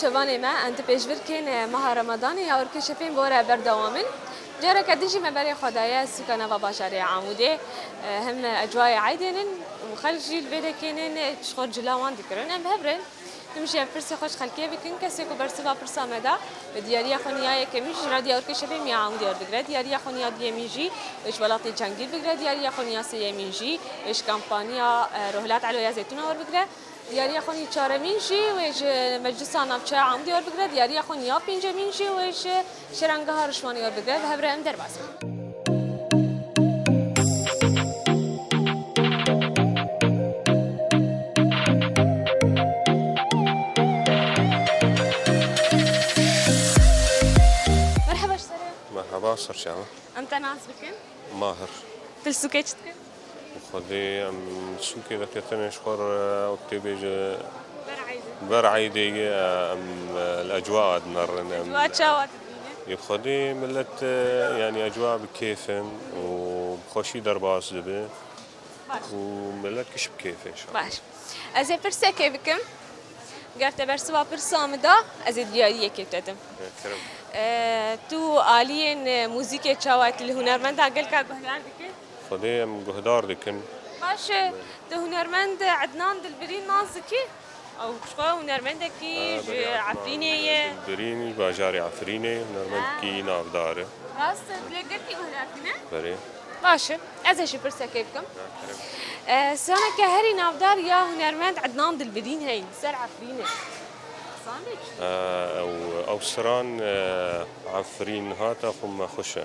şevanê me em di pêşvirkên e, meha Ramadanê ya orkeşefên bore berdewam in. Careke din jî me berê xwe daye sûka nava bajarê Amûdê e, hem ecwayê eydên in û xelk jî li vê dekênên ji xwe cila wan dikirin. Em bi hev re in. Tu min şîya pirsê xwe ji xelkê bikin, kesê ku bersiva pirsa me da, bi diyariya xwe nîya yekemîn jî ji Radya Urkeşê bê Mîaûn diyar digre, diyariya xwe nîya duyemîn jî ji welatê Cangîr bigire, diyariya xwe nîya sêyemîn jî ji kampaniya Rohilat Eloya Zeytûna werbigire, diyariya xwe nîya çaremîn jî wê ji Meclisa Navçeya Aûn diyar bigire, diyariya xwe nîya pêncemîn jî wê ji Şerangeha Rişwanê ya bibe bi hev re em derbas bin. Merheba ji sere. Merhaba, serçe me. Em te nas bikin. Mahir. Tilsûkê çi dikin? Xwedê em sûkê veketinê ji xwe re ew tê bê ji ber eydê ye em li ecwa a dimerin. Em ecwa çawa dibînin? Yê Xwedê milet yanî ecwa bi kêf in û bi xweşî derbas dibe û milet kişî bi kêf in. Baş. Ez ê pirsekê bikim. Ger te bersiva pirsa min da ez ê diyariyekê te dim. Kerem. Tu aliyên muzîkê çawa li hunermendan gelka guhdar dikin? Xwedê em guhdar dikin. Baş e, tu hunermend Ednan Dilbirîn nas dikî? Ew xwe hunermendekî ji Efrînê ye. Ednan Dilbirîn ji bajarê Efrînê ye, hunermendekî navdar e. Rast e, tu yê girtî guh lê xwe ne? Berê. Baş e, ez ê jî pirsekê bikim. Straneke herî navdar ya hunermend Ednan Dilbirîn heye li ser Efrînê. Stane çi ye? Ew stran Efrîn hate xwe me xweş e.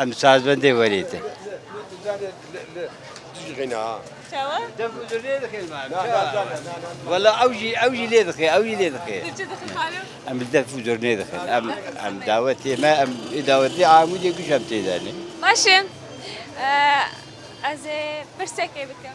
Em sazbendê werê te. Valla ew jî ew jî lê dixê ew jî lê dixê. Em bi def û durnê dixin. Em em dawetê me em ê dawetê amûdê guş em tê de ne. Baş e. Ez ê pirsekê bikim.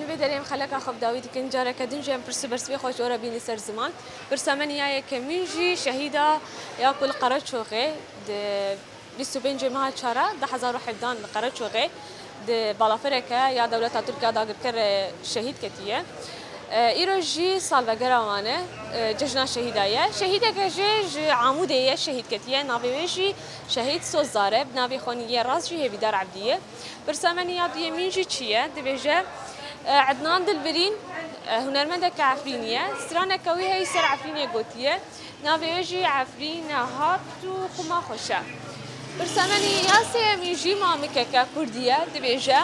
Li vê derê em xeleka xwe bi dawî dikin. Careke din jî em pirs û bersivê xwe ji we re bîne ser ziman. Pirsa me niha ye ke min jî şehîda ya ku li Qereçoxê di bîst û pêncê meha çara du hezar û hevdeh li Qereçoxê di balafereke ya dewleta Tirk ya dagirker re şehîd ketiye. Îro jî salvegera wan e, cejna şehîda ye. Şehîdeke jê ji Amûdê ye şehîd ketiye. Navê wê jî şehîd Sozdar e. Bi navê xwe nî yê rast jî Hêvîdar Ebdî ye. Pirsa me ya duyemîn jî çi ye? Dibêje, Ednan Dilbirîn hunermendeke Efrînî ye. Straneke wî heye ser Efrînê gotiye. Navê wê jî Efrîn Hat û xwima xweş e. Pirsa me ya sêyemîn jî mamikeke Kurdî ye. Dibêje,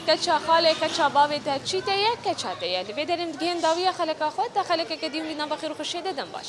Keça xalê, keça bavê te çî te ye? Keça te ye. Li vê derê min digihên dawiya xeleka xwe, te xelekeke dî min bîna bi xêr û xweşiyê de dem baş.